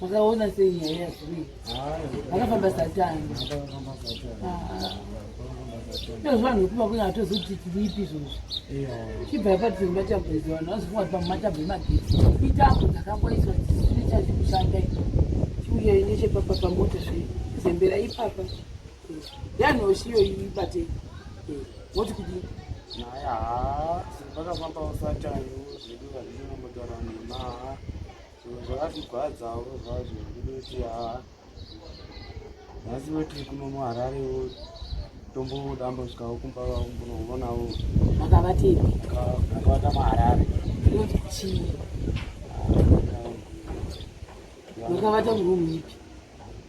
Makaona sei nyaya ya Zwi? Makafamba satani. Ndio zvanhu kuba kuna atozoti tilipi izvozvo. Chibva apa tiri matabhezi vanhu vazofunga kuti pamatabhezi magetsi. Mitambo dzakamboiswa dzisiri chazi kushanda chiuya ine chepapa pamota zve zembera ipapa. Yanoshiyo ibate. Woti kuti naya vakafamba usatani zvedu hazvinombotara nema zvakatigwadzawo zvazvo kuti haa nhasi voti kuno muharare tombodambosvikawo kumba vakumbonovonawo akavati akavata muharare chii makavata murumu ipi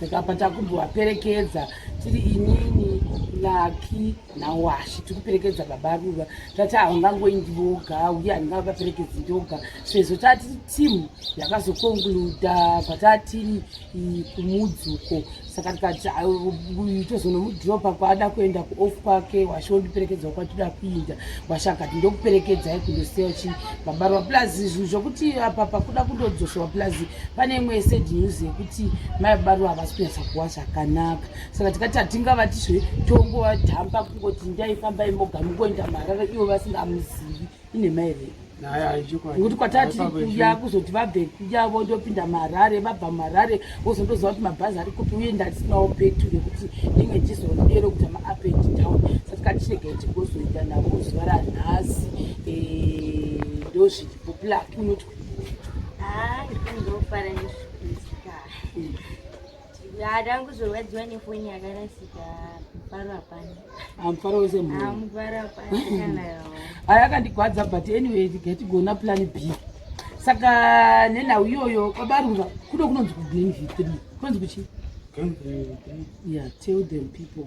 saka apa takumbovaperekedza tiri inini laki nawashi tiri kuperekedza baba ruva tati havangangoyi ndivoga uye handingavaperekedzi ndoga sezvo tati timu yakazokonkluda patatiri kumudzuko saka tikati tozonomudropa kwaada kuenda kuoff kwake washi wondiperekedzwa kwatida kuinda Gwasha akati ndokuperekedzai kundosiyawo chii vabarwa plus zvinhu zvokuti apa pakuda kundodzosewa plus pane imwe yesad news yekuti mai vabarwa havasi kunyatsa kuwa zvakanaka saka tikati hatingavatizve tongowadhampa kungoti ndaifambai moga mukuenda marara ivo vasingamuzivi inhema here nekuti kwatatiri kuya kuzoti vabve kuya vondopinda muharare vabva muharare vozondoziva kuti mabhazi ari kupi uye ndandisinawo petu rekuti ndinge ndizonodero kuita maap and down satika tiregai tigozoita navo zuva ranhasi eh, ndozviripo plak unoti ah, Ya tangu zvorwadziwa nefoni yakarasika mufaro hapana. Ah, mufaro wese mhuri. Ah, mufaro hapana kana yawo. Aya akandigwadza but anyway tigona plan B. Saka nenhau iyoyo kwabarura kuno kunonzi kugreen V3. Kunonzi kuchi? Green V3. Yeah, tell them people.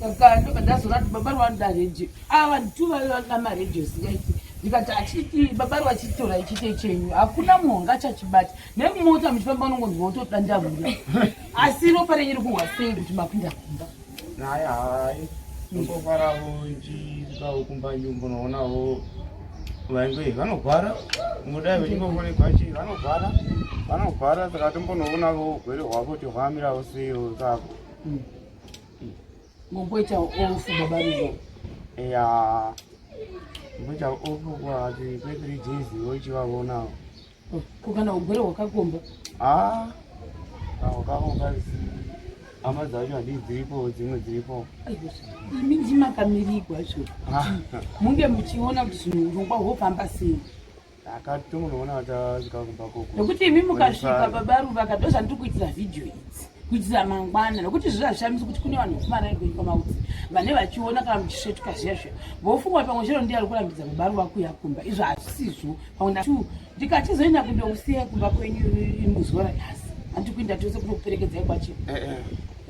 saka ndobva ndazoona kuti baba rwanoda radio ava nditu vave vanoda maradio zingaiti ndikati achiti baba rwachitora ichite chenyu hakuna munhu wanga achachibata nemumota muchifamba unongonzwa utoda ndavuda asi ropa renyu ri kuhwa sei kuti mapinda kumba naye hai ndofaravo ndichikawo kumba nyumba unoonavo vainge vanogwara mudai vechingofonegwa chii vanogwara vanogwara saka tombonoonavo ugwere hwavo kuti hwamiravo sei sako mm. momboita ofu baba ruva eya momboita ofu kwati kwethree days wochivavonawo oh, ko kana ugwere hwakakomba a ah, ah, hwakakomba hama dzacho hadii dziripo dzimwe dziripo imi ndimakamirigwa zvo ah. munge muchiona kuti zvinhu urongwa hwofamba sei akati tomunoona vachasvika kumba koko nokuti imi mukasvika baba ruva ka ndo zvandiri kuitira vhidhiyo idzi kuitira mangwana nokuti zviza zvishamisi kuti kune vanhu vekumarari kwenyika maudzi vane vachiona kana muchisvetuka zviya zviya vofunga kuti pamwe chero ndiye ari kurambidza baba ruva kuya kumba izvo hazvisizvo pamwe nda two ndikachizoenda kundousiya kumba kwenyu muzuva ranyasi handi kuinda tose kunokuperekedzai kwachino eh, eh.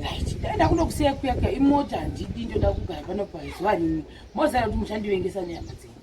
right ndaenda kunokusiya kuya kuya imota handidi ndoda kugara pano pazuva rimwe mozara kuti muchandivengesa nyama dzenyu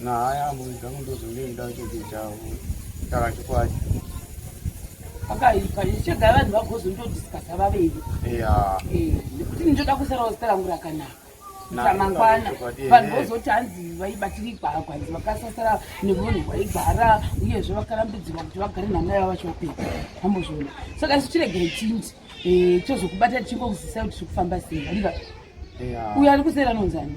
nahaya ambuzi dzangu ndozonge ndida kuchidzawo saka chikwadi pakaipa ichega vanhu vagozondodiscasa vaviri eh, nekuti ndinoda kusarawo zita rangu rakanaka ramangwana vanhu vozoti hanzi vaibatirigwa kwanzi vakasasara nemunhu waigara uyezve vakarambidzirwa kuti vagare nhana yavo vachopedza ambozviona saka isu tiregere chinzi eh, tozokubata tichingokuzisai kuti tiri kufamba sei ariva uyo ari kusera anonzani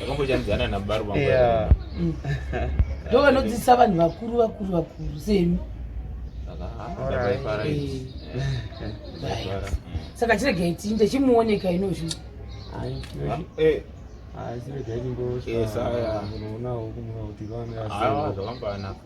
vakambochambidzana nabaro vangu yeah. mm. ndo vanodzidzisa vanhu vakuru vakuru vakuru semi saka chiregai tiinde chimuoneka inozvi zvakambanafa